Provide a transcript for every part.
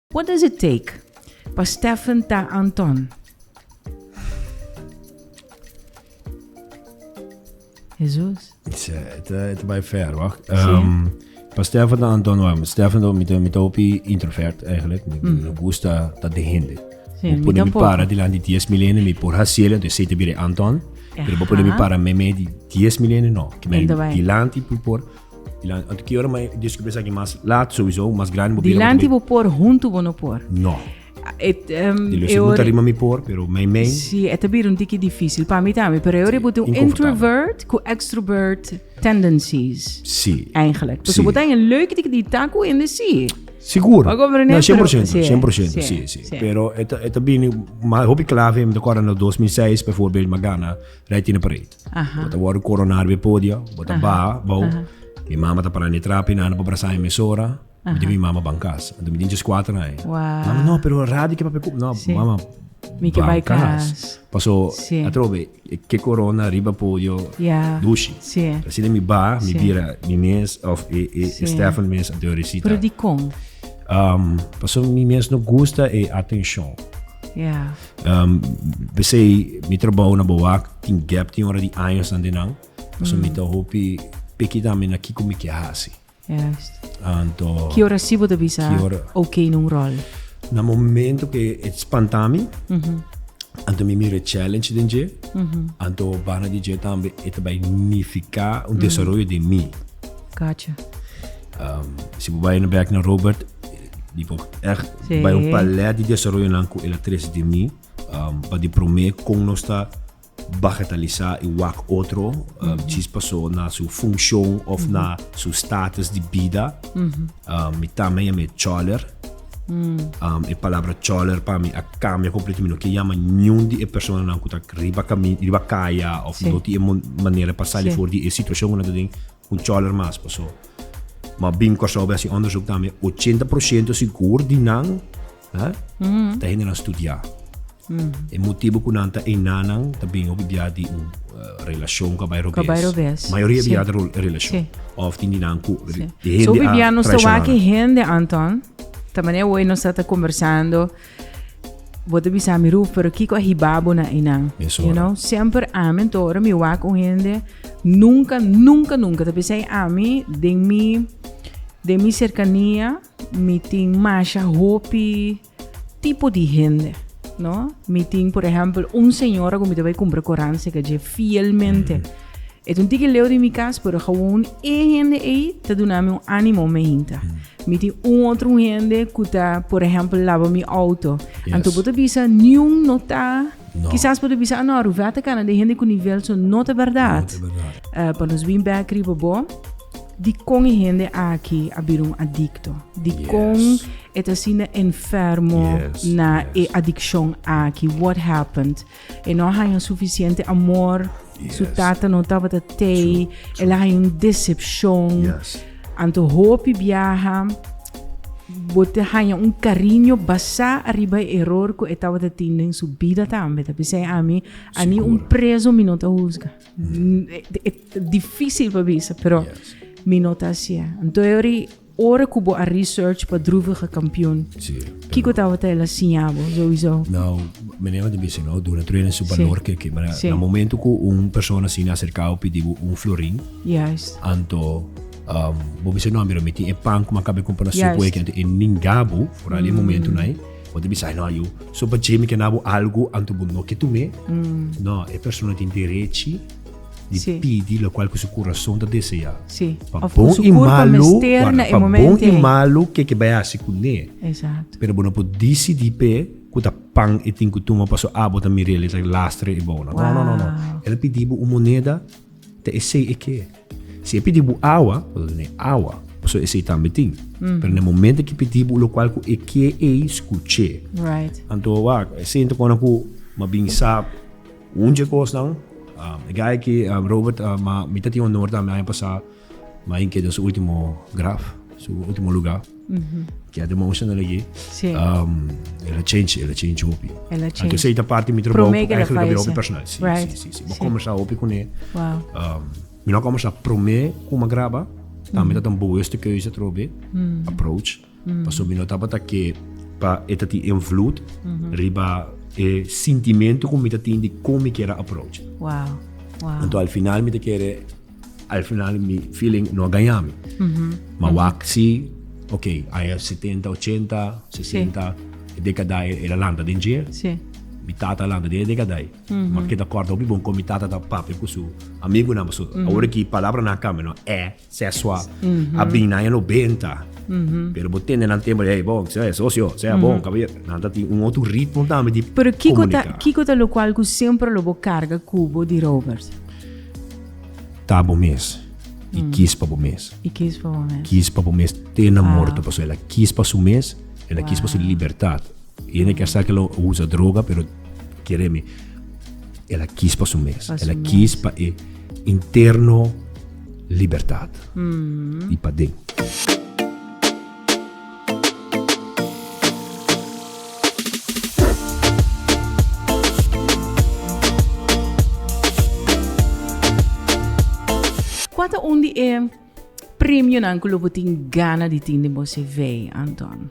What does it take pa Stephen ta Anton? Jesus. Tja, e ta, e ta bai ver, wacht. Zie. Ehm, pa Stefan dan Anton Warm. Stefan dan mito mito opi introvert eigenlijk. Mi Mm. no gusta dat de hende. Sí, Mi mi pone mi tampoco. para di landi 10 milene, mi por hasiele, entonces sei te bire Anton. Pero bo pone mi Ajá. para meme di 10 milene, no. Ki mi Ento bai. di landi pu por Di lanti bo por, huntu bo no por. No. Di lo si bo ta rima mi por, pero mei mei. Si, e ta bira un tiki difisil pa mi tambe, pero e ora bo ta un introvert ku extrovert tendencies. Si. Eigenlijk. Pasobra bo ta haña leuke tiki di ta ku hende si. Sigur. Bo ta komprende? No, sien por sento, sien por sento, si, si. Pero e ta bini, hopi klave mi ta kòrda na dos mil seis, befòrbild, Magana, Rij Tine Pareid. Bo ta wòrdu koroná riba e podio, bo ta baha bou. Mi mama ta pará na e trap, e nana por brasá mi mesora, mi djip mi mama ban kas. Anto mi tin djes kuater aña. Mama, no, pero e radio ke papia kup. No, mama, ban kas. Paso, atrobe, ke korona riba podio dushi. Asina mi baha, mi bira mi mes, òf e Stefan mes anto yo risita. Pero dikon? Paso mi mes no gusta e atenshon. Um, besei mi trabou na Bowak, tin gap tin ora di años nan dinan. Mm. So mi ta hopi peki tambe na kiko mi ke hasi. Yes. Anto... Ki ora sibo te bisa ora, ok nun rol? Na momento ke et spantami, mm -hmm. anto mi mire challenge den je, mm -hmm. anto bana di je tambe et bai nifika un mm. desarrollo de mi. Gotcha. Um, si bo bai na back na Robert, Mi por echt sí. bay un palet di desarrollonan cu el a trece di mi um, pa di promé con nos ta bagatalisá y wak otro um, chis pasó na su funcion of na su status di bida. Um, mi tame ya me choler. Um, e palabra choler pa mi a cambia completo. Mi no ke llama niun di e persona nan cu ta riba, cami, riba kaya of Sí. no ti e mon- manera pa sali Sí. for di e situacion cu nan ta den. Un cholor mas paso. Ma bim Kòrsou be hasi onderzoek tambe ochenta por siento sigur di nan eh, ta hende nan studiá. E motibu ku nan ta einá nan ta bin hopi bia di un eh, relashon ku a bai robes. bai robes, Mayoria si. bia ta ro- relashon. Si. Òf tin di nan ku di So hende hopi a bia nos ta traishoná wak nan. ki hende, Anton, ta manera hoy nos ta ta kombersando Bo ta bisa mi Ruth, pero kiko a hiba bo na einan? Mesora. You know, semper amen, to ora mi wak un hende, nunca, nunca, nunca ta bisa ami den mi, den mi cercania mi tin masha hopi tipo di hende, no? Mi tin, por ehempel, un señora cu mi ta bay cumpra coran seca dje fielmente. E tin tiki leu di mi cas, pero gewoon e hende ei ta duna mi un animo, me hinka. Mi tin un otro un hende cu ta, por ehempel, laba mi auto. Yes. Anto bo ta bisa, niun no ta... No. Quizás bo ta bisa, ah no, Ruvea ta cana den hende cu nivel so. No ta berdad. No ta berdad. Uh, pa nos bin bek riba bo, di con e hende aki a bira un adicto? Di Yes. con e ta asina enfermo Yes, na yes. e adiccion aki? What happened? E no a haña un sufisiente amor. Su tata no tabata tei. El a haña un decepcion. Yes. Anto hopi biaha bo te haña un cariño basá ariba e eror cu e tabata tin den su bida tambe. Ta bisai ami, a ni un Sigur. preso mi no ta husga. Mm, e- e- Difícil pa bisa, pero Yes. mi no ta hacié. Anto e ori Ora cu bo a research pa druvige campion, kico tabata el a siña bo sowieso? Nou, meneer no ta bisa no, duna truena en su Sí. balor ke ke, mara Sí. na momento ku un persona asina acerca bo pidi bo un florin, Juist. anto um, bo bisa no, mira mi tin e pan ku mi a kaba di kumpra na Juist. supo eki, anto e ninga bo foral di e momento nai, bo ta bisa ai no yu, so pa Jamie kenda bo algu anto bo no ke tum'e, no, e persona tin derechi, Di sí. pidi lokual ku su kurason ta deseá. Sí. Pa of bon i malu, guarda, pa bon i malu ke ke bai hasi kuné. Exacto. Pero bo no por disidí p'e ku ta pan e tin ku tuma paso a bo ta mira el, e ta lastre e bona. Wow. No, no, no. El a pidi bo un moneda, ta esei e ke. Si e pidi bo awa, bo ta tene awa, paso esei tambe tin. Mm. Pero na e momento ke pidi bo lokual ku e ke ei, skuch'é. Right. Anto wak, e sento kona ku mabin sa Un dje kosnan, e gay aki, Robert, ma mi ta tin honor tambe aña pasá, ma e keda su último graf, su último lugá. Keda emotional aki. Sí. El a change, el a change hopi. El a change. Anto esei ta parti mi trabou, Promé ku keda eigenlijk a bira hopi falece. personal. Sí, Right. sí, sí, sí. Bo Sí. kòmbersá hopi kuné. Wow. Um, mi no a kòmbersá promé kuma graba, tambe tabata un boeuste keuze atrobe, approach. Pasobra no tabata ke pa e ta tin invloed riba e sintimentu ku mi ta tin di kon mi kere approach. Anto al final mi ta kere, al final mi feeling no a gaña mi. Ma wak si, oke, aña setenta, ochenta, sesenta, e dekadae el a lanta den jail, mi tata a lanta den e dekadae. Mi ta kòrda hopi bon kon mi tata ta papia ku su amigunan. Pasobra awor aki palabranan a kambia, no? È. Sesua a bin na e lo benta. Pero bo tende nan tempo hey bon, se socio, se bon, caballero. Nan ta tin un otro ritmo tambe di Pero kiko ta, comunica. kiko ta lo cual cu siempre lo bo carga cubo di Robert? Ta bo mes. Y kies pa bo mes. Y qué es pa bo mes? Kies pa bo mes te na morto. Paso el a kies pa su mes, el a kies pa su Wauw. libertad. E no kier sa ke lo a usa droga, pero kere mi, el a kis pa su mes. El a kis pa e interno libertat. I pa den. Kua ta un di e premionan ku lo bo tin gana di tin den bo CV, Anton?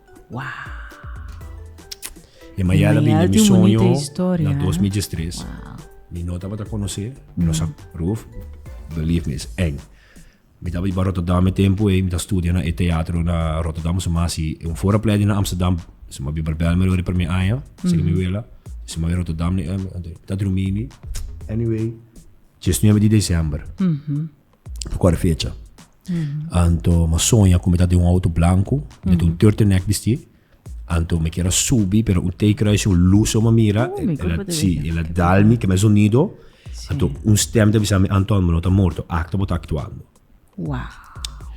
Wow. E Mayal a bini mi soño na 2013. Wow. Mi no tabata conocer, mi no sa proef. Believe me, is eng. Mi taba iba Rotterdam e tempo e, mi ta studia na e teatro na Rotterdam, so mas si un fora pledi na Amsterdam, so ma biba bel me rode per mi aña, so mi wela, so ma Rotterdam ni, ta drumi mi. Anyway, djesnuebe di december. Mm -hmm. Kòrda fecha. Anto ma soña ku mi ta den un auto blanku, mi ta un turtleneck bisti. Anto mi kier a subi, pero un teikruis, un lus so mi a mira, si, el a dal mi kende sonido, anto un stèm ta bisa mi, Anton, bo no ta morto, akta bo ta aktuando.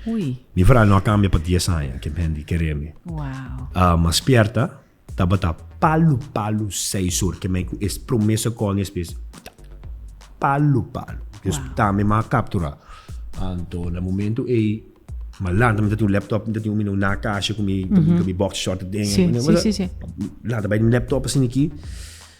Mi verral no a kambia pa dies aña, ken hende kere mi. Mi a spièrta, Tabata palu palu seis or kemei ku es promé sekondo es mes palu palu dus tambe mi a kapturá anto na momentu ei malantanan mi ta tin un lèptòp mi ta tin un mino na kashi ku mi boksha short aden lanta bai mi lèptòp asin aki.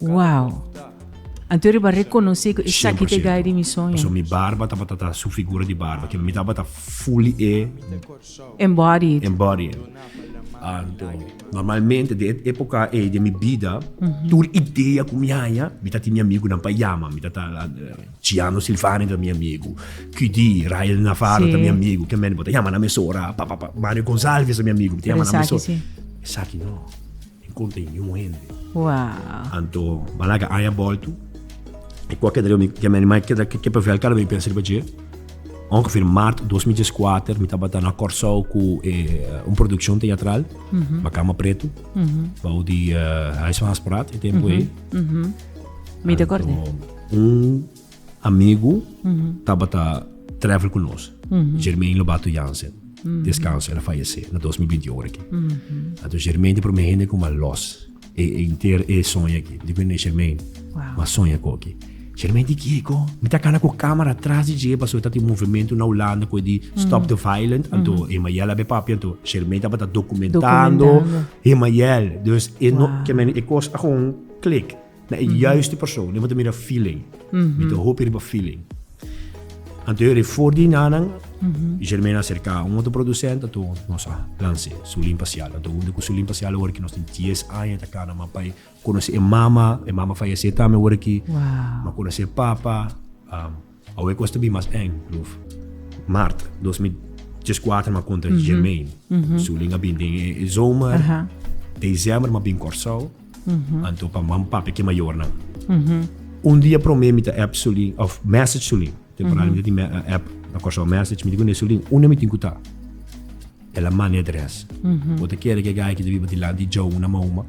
Wow! Anto riba reconoce cu esaki te gai di mi soño. So mi barba tabata ta su figura di barba, kilo mi tabata fully e embodied. Embodied. Anto, normalmente den e epoca ey den mi bida, tur idea cu mi haya, mi ta tin mi amigunan pa yama. Mi ta ta, Ciano Silvani ta mi amigu, QD, Ryan Navarro ta mi amigu, bo ta yama na mesora, pa, pa, pa, Mario Gonzalvez ta mi amigu, bo ta yama na mesora. Pero esaki si. Esaki no. Encontra e ñu hende. Wow. Anto ba laga aña bolto. E cuaca de mi que mi animal que da que pavel cada vez pensa riba je. Ongeveer maart 2004 mi tabata na Corsou cu eh, un producción teatral, mm -hmm. Bacama Preto, mm -hmm. bouw die uh, Huis van Haspraat, e tempo mm -hmm. e. Mm -hmm. Mi te acorde. Un amigu tabata travel ku nos, Germain Lobato Jansen. Descanso, el a fayesé na dos mil binti un aki. Anto Germain di promé hende ku m'ha lòs e e inter e soña aki. Mi di ku hende, Germain, m'ha soña ku aki. Germain di kieko? Mi ta kala ku kamera atras di dje pasobra ta tin movementu na Hulanda ku e di Stop the Violent. Anto Hemael a be papia, anto Germain tabata dokumentando Hemael. Dus e no, kier men e kos a gewoon klik. Na e juiste persoon. Emo ta mira feeling. Mi ta hopi riba feeling. Anto yo rei for di nanan, Germaine a serka un otro producent, anto nos a lanse Sulin pa Siala. Anto hunde cu Sulin pa Siala awor cu nos tin dies aña ta cana mapa y conoce e mama. E mama fayece tambe awor aki. Wow. Mi a conoce e papa. Awe cos ta bin mas eng, Ruf. Maart dos mil dieskuater m'a konta Jermaine. Sulin a bin den e zomer. December m'a bin Kòrsou. Anto pa mam pape ke mayornan. Un dia promé mi ta app Sulin òf mèsech Sulin. Temporario mi ta tin app na Kòrsou mèsech. Mi di kuné, Sulin, unda mi tin ku ta? El a mane dres. Bo ta kere ke gai ki ta biba dilanti di Joe una mauma?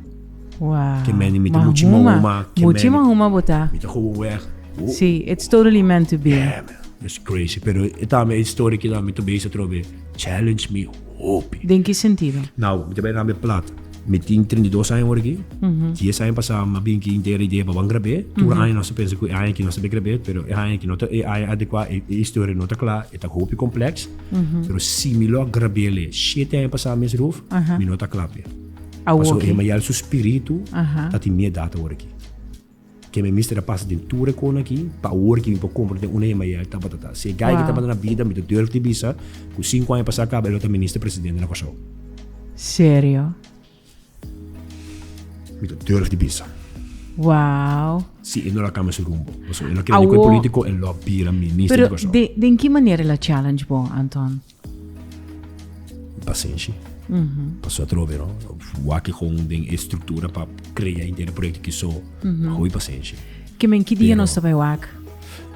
Wow. Ke mende mi ta muchi mauma. Muchi mauma bo ta. Mi ta kobo weg. Oh. Si, it's totally meant to be. Yeah, man. It's crazy. Pero e tambe e story ki tambe mi ta base atrobe challenge mi hopi. Den ki sentido? Now, mi ta bai na mi plat. Mi tin treinta i dos aña awor aki. Dies aña pasá mi a bin aki intera idea pa ban grab'é. Tur aña nos ta pensa ku e aña aki nos ta bin grab'é, pero e aña aki no ta e aña adekuá, e historia no ta kla, e ta hopi komplèks. Pero si mi lo a grab'é alí shete aña pasá mes, Ruth, mi no ta kla p'e. Pasobra Hemaial su spiritu ta tin mié dat awor aki. Ke mi mister a pasa den tur e kona aki pa awor ke mi por kompra den una hemba yaya tabata ta. Si e gai ke tabata na bida mi ta durf di bisa ku sinku aña pasá kaba e lo ta minister presidente na Kòrsou. Serio? Mi ta durf di bisa. Wow. Si e no lo a kambia su rumbo. Pasobra e lo a kere di ku e polítiko e lo a bira minister di Kòrsou. Pero den ki manera el a challenge bo, Anton? Pasenshi. Mm -hmm. Paso atrobe, no? Waki gewoon den e structura pa crea inter proyecto ki so. Mm -hmm. Hoi pasenshi. Ke men ki dia nos ta bai wak?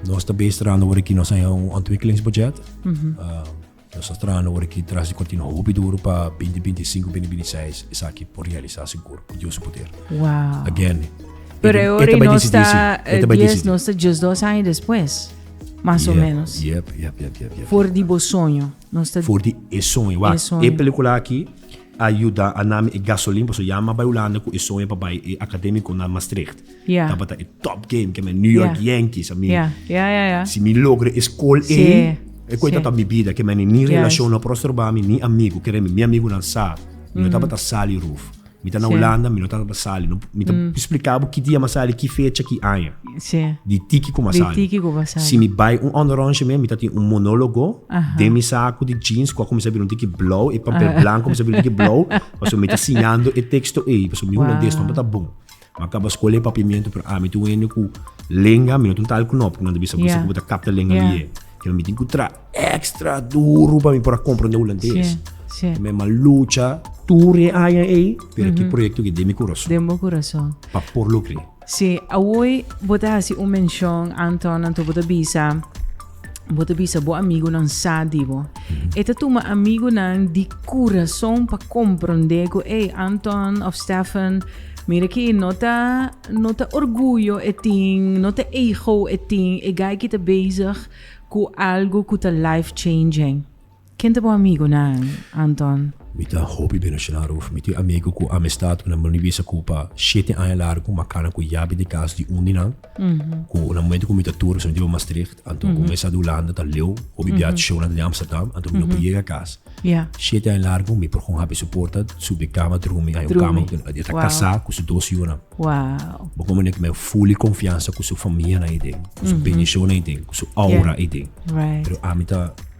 Nos ta bes trando wori ki nos aya un ontwikkelingsbudget. Mm -hmm. uh, nos ta trando wori ki tras di continu hopi duro pa 2025, 2026 esaki por realisar seguro, por Dios poder. Wow. Again. Pero e ori nos ta, 10 nos ta just dos años después. Mas o menos. Yep, yep, yep, yep, yep. For di bo soño. Nos ta For di e soño. Wa, e, soño. e pelikula aki a yuda a nami e gasolin paso ya m'a bai Hulanda ku e soño pa bai e akademiko na Maastricht. Yeah. Tabata e top game keme New York Yeah. Yankees. A mi, Ja, ja, ja, ja. si mi logra e skol Sí, ei, e koi sí. tabata mi bida keme ni Juist. relashon no a prostroba mi, ni amigo. Kere mi, mi amigunan sa. Mi no tabata sali ruf. Mi ta na Hulanda, mi no ta pa sali. No, mi ta spliká bo ki dia mi a sali, ki fecha, ki aña. Di tiki ku mi a sali. Di tiki ku mi a sali. Si mi bai un ònderongsje mi, mi ta tin un monólogo den mi saku di jeans kua ku mi sa bira un tiki blou, e pamper blanku ku mi sa bira un tiki blou, pasobra mi ta siñando e teksto ei, pasobra mi hulandes tambe ta bon. Ma kaba skola e papiamento pero ami tin un hende ku lenga mi no tin tal ku no porque nan ta bisa ku esaki bo ta kapta lenga mi e. Pero mi tin ku traha ekstra duru pa mi por a komprende hulandes. Te mi a lucha tur e aña ei pero e proyekto aki den mi kurason. Den bo kurason. Pa por lo kri. Si, awoy bo ta hasi un menshon, Anton, anto bo ta bisa. Bo ta bisa bo amigunan sa di bo. E ta tuma amigunan di kurason pa komprondé ku ey Anton of Stefan, mira aki no ta no ta orguyo e tin, no ta ego e tin, e guy aki ta bezig ku algu ku ta life changing. Ken ta bo amigunan, Anton? Mi ta hopi bira Shina Ruth. Mi tin amigu ku amistad ku nan bo no bisa ku pa shete aña largu ku makana ku yabi di kas di un di nan. Ku na momentu ku mi ta tur, pasobra mi ta bai Maastricht, anto ku mesa di Hulanda ta leu, hopi bia ta shona den Amsterdam, anto mi no por yega kas. Shete aña largu mi por kon habri su porta, subi kama drumi. Hay un kama ku e ta kasá ku su dos yunan. Bo kon manera ku mi hay fuli konfiansa ku su famia nan ei den, ku su bendishonnan ei den, ku su aura ei den. Pero ami ta.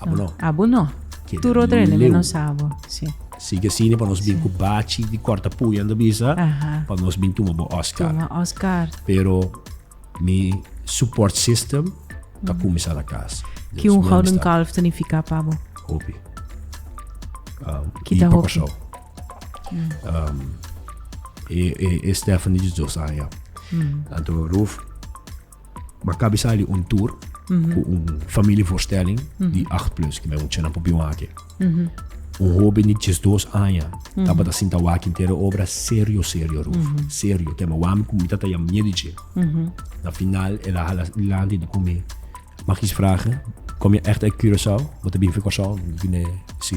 Abo no. Abo no. Kede Tur otro hende leu. menos abo. Sí. Sigue sini pa nos bin ku bachi di korta puya anda bisa Aha. pa nos bin tuma bo Oscar. Tuma Oscar. Pero mi support system ta kuminsá na kas. Ki Dios un mi gouden amistad. kalf ta nifiká pa bo? Hopi. Um, Ki i ta pa hopi? Kòrsou. Um, e, e, e Stephanie di dos aña. Anto Ruf Mi a kabi sali un tur ku un familievoorstelling di 8 plus, ku mi mucha nan por bin wak aki. Un hoben di diesdos aña tabata sinta wak henter e obra serio, serio, Ruf. Serio. Ke mi a wak mi ku mi tata ya miedu dje. Na final el a hala lanti di ku mi, Mag is vragen? Kom ya ècht uit Curaçao? Bo ta bin fi Kòrsou? Bo ta bin e, si.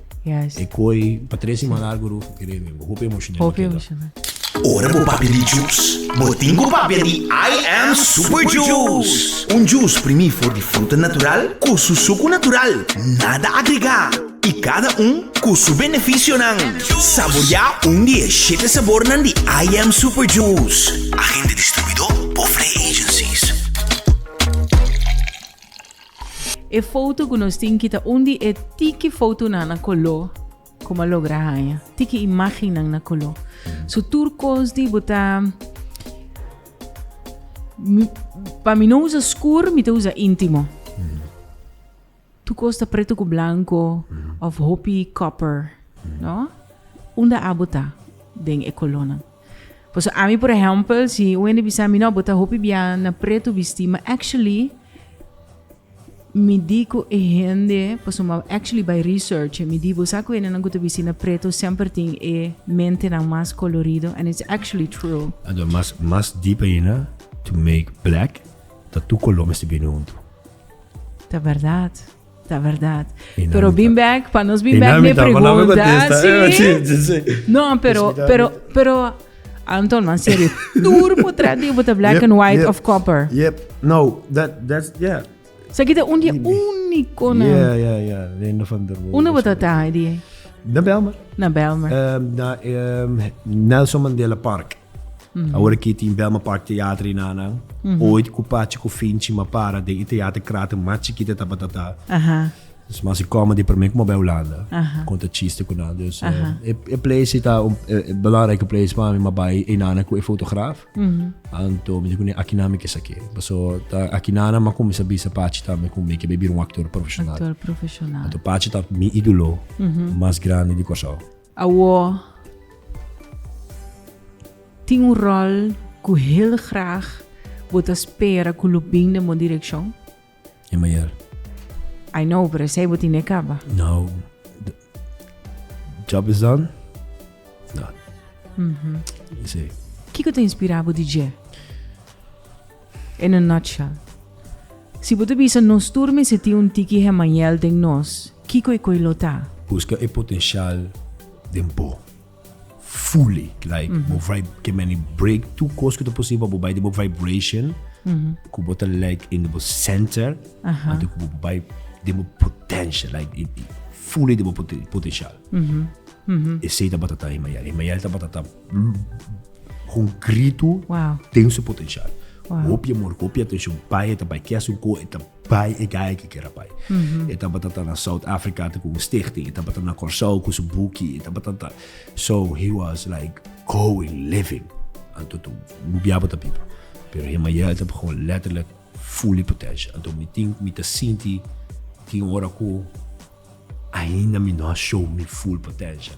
Yes. E koe pa tres siman largu Rufo kere mi, bo hopi emoshonel a keda. Hopi emoshonel. Ora bo papia di jus, bo tin ku papia di I am Super Juice. Un jus primí for di fruta natural ku su suku natural, nada agregá, i kada un ku su benefisionan. Saboriá un di e shete sabornan di I am Super Juice. Agente distribuidó Bofre Agencies. E foto cu nos tin ki ta un di e tiki fotonan na coló cu bo a logra haña. Tiki imagennan na coló. So tur cos di bo ta... Pa mi no usa scur, mi ta usa intimo. Tur cos ta preto cu blanco of hopi copper, no? Unda abo ta den e colónan? Pasobra ami por ehèmpel si un hende bisa mi no bo ta hopi bia na pretu bistí ma actually mi di ku e hende pasobra mi actually bai research mi di bo sa ku hendenan ku ta bistí na pretu semper tin e mentenan mas kolorido and it's actually true. Ando mas mas deep ayina to make black ta tur kolor mester bini huntu. Ta bèrdat. Ta verdad. Dinamita. Pero bin bek, pa nos bin bek mi pregunta. Sí. No, pero, pero, pero, Anton, man serio, tur por traer die bota black yep, and white yep, of copper. Yep, no, that, that's, yeah. Sa kita un die unico na. Yeah, yeah, yeah, Lendo van der Molen. Una bota taai die. Na Belmer. Na Belmer. Um, na um, Nelson Mandela Park. Awor aki tin Belma Park Theater i nanan. Oid ku Pachi ku Finchi ma para den e teater krater mas chikit e tabata ta. Dus mas e comedy promé ku maba Hulanda konta chiste ku nan. Dus e place ta un e belangrike place pa mi ma bai e nanan ku e fotograf. Anto mi di kuné aki nan mi ke sak'é. Paso ta aki nanan mi a kuminsá bisa Pachi tambe ku mi ke bai bira un aktor profeshonal. Aktor profeshonal. Anto Pachi ta mi idolo mas grandi di Kòrsou. Awor tin un ròl ku hel grag bo ta spera ku lo bin den bo direkshon? E mayor. I know, pero esei bo tin di e kaba. Now the job is done, it's done. Esei. Kiko ta inspirá bo di dje? In a nutshell. Si bo ta bisa nos tur mester tin un tiki Hemael den nos, kiko e koi lo ta? Buska e potencial den bo fully, like bo fai ke meni break tur kos ku ta posibel pa bo bai den bo vibration ku bo ta leg in bo center anto ku bo bai den bo potencia, like fully den bo potencial. Esei tabata ta Hemael. Hemael tabata ta. Concreto ten su potencial. Hopi amor, hopi atencion bai e ta bai. Ke asun cu e ta bai e gaya ke kier a bai. E tabata ta na South Africa cu un stichting, e tabata na Corsou cu su buki, e tabata ta. So, he was like going, living. Anto toa mi biaba ta biba. Pero him ayer a ta begon letterlijk fully potential. Anto mi tink, mi ta sinti tin ora cu ainda mi no a show mi full potential.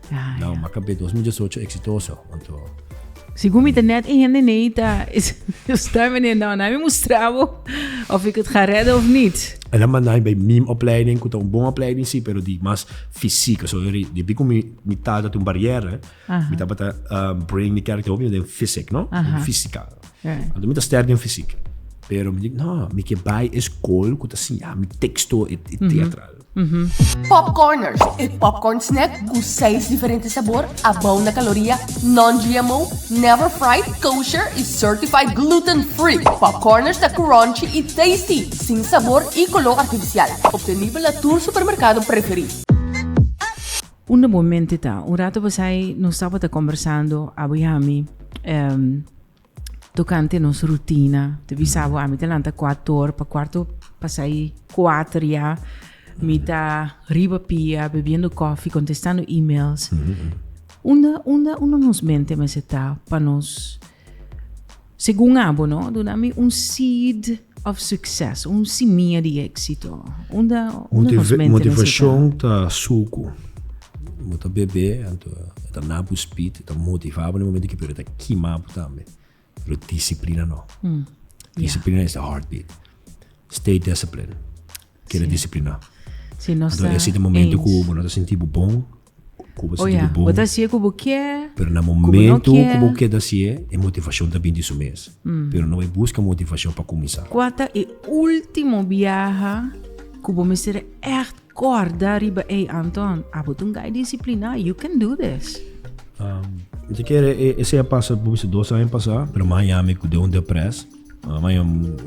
Nan maka be dos mil diesocho eksitoso anto. Segun mi ta net e hende nei ta sta menen no na mi mustra bo of ik et ga redde of nit. Ela manda mi bay mim opleiding ku ta un bon opleiding si pero di mas fisiko so depi ku mi tata ta un bariere mi tabata bring mi kèrekter hopi den fisik no fisika anto mi ta sterk den fisik pero mi di no mi ke bay e skol ku ta siña mi teksto etsetera. Pop Corners, e popcorn snack cu seis diferente sabor, a bao na caloria, non-GMO, never fried, kosher y certified gluten free. Pop Corners ta crunchy y tasty, sin sabor y color artificial. Obtenibel na tur supermercado preferi. Unda bo mente ta? Un rato pasai nos tabata combersando, Abu y ami. Tokante nos rutina, ta bisa bo, ami ta lanta kuatu or, pa kuarto pasa i kuater ya, mi ta riba pia bebiendo kofi, kontestando emails. Unda, unda, unda nos mente mester ta pa nos, segun abo no, duna mi un seed. Of succes, un simia di exito. Unda nos mente na si ta? Motivacion ta sucu. Bo ta bebe, anto e ta na bo speed, e ta motiva bo na e momento aki, pero e ta kima bo tambe. Pero disciplina no. Disciplina is the heart beat. Stay discipline. Keda disciplina. Anto e siti momento cu bo no ta sinti bo bon, Oja, bo ta hasié ku bo kier, ku bo no kier. Pero na momentu ku bo keda hasié, e motivashon ta bin di su mes. Pero no bai buska motivashon pa kuminsá. Kua ta e último biaha ku bo mester ègt kòrda riba ei, Anton? Abo ta un gai disipliná. You can do this! Mi ta kere esei a pasa por bisa dos aña pasá, pero mi a haña mi ku den un depres. Mi a haña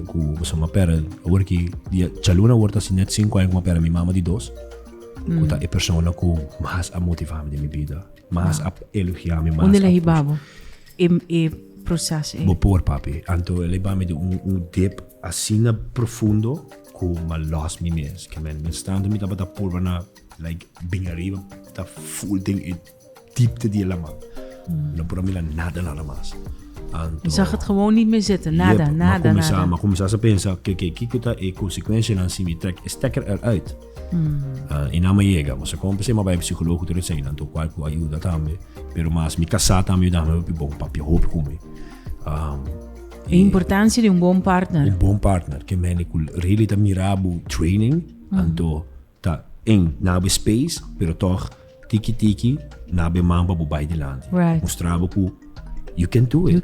ku mi a pera, awor ki dia djaluna awor ta hasi nèt sinku aña ku mi a pera mi mama di dos. Cu ta e persona cu mas a motiva mi den mi bida, mas a elogia mi, mas a Unde el a hiba bo e, e proces ei? Bo por, papi. Anto el a hiba mi den un, un dip asina profundo cu m'a lost mi mes. Ke men, mientras tanto mi tabata purba na like bin ariba, ta full den e Diepte di e laman. Nan por a mira nada nada mas. Anto. Mi zag het gewoon niet meer zitten. Nada, yep, nada, ma comenzá, nada. Ma comenzá sa pensa, oké, oké, kiko ta e consecuencianan si mi trek e stekker eruit? Mm. Uh, i nan me yega, ma sa kon pese ma bai psicologo tur esei, nan tur kwal ku ayuda tambe, pero mas mi kasá tambe yudame hopi bon, papia hopi ku mi. Um, e importancia di un bon partner. Un bon partner, ke mene ku really ta mirabu training, mm. anto Ta en na bo space pero tog tiki tiki na bo e man pa bo bai dilanti. Mustra bo cu you can do it.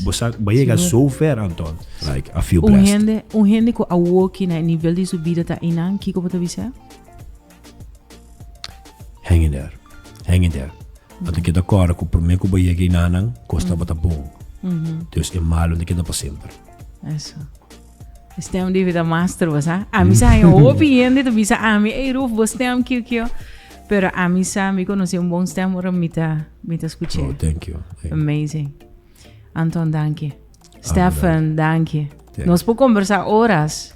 Bo sa bo a yega so ver anto. Like a feel blessed. Un hende cu a woki na e nivel di su bida ta einan kico bo ta bisa? Hang in there. Hang in there. A ta keda kora cu prome cu bo yega einanan cos tabata bon. Dus e malo no ta keda pa semper. E stem debe ta mas trova, sa? A mi sa un hopi hende ta bisa a mi, ei Ruf, bo stem kio kio. Pero a mi sa, mi konosi un bon stem ora mi ta, mi ta skuch'e. Oh, thank you. Thank you. Amazing. Anton, danki. Stefan, danki. Thank you. Nos por conversa horas.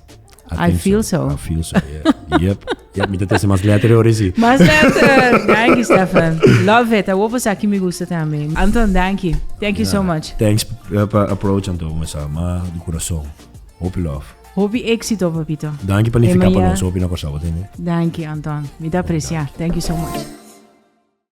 I think feel so. I feel so, yeah. Yep. Ya mi ta trese mas letter e ora si. Mas letter! Danki Stefan. Love it. Awor por sa ki mi gusta tambe. Anton, danki. Thank you so much. Thanks pa approach Anton me sa ma di kurason. Hopi love. Hopi exito papito. Danki pa nifica pa nos hopi na Kòrsou. Danki Anton. Mi ta aprecia. Thank you so much.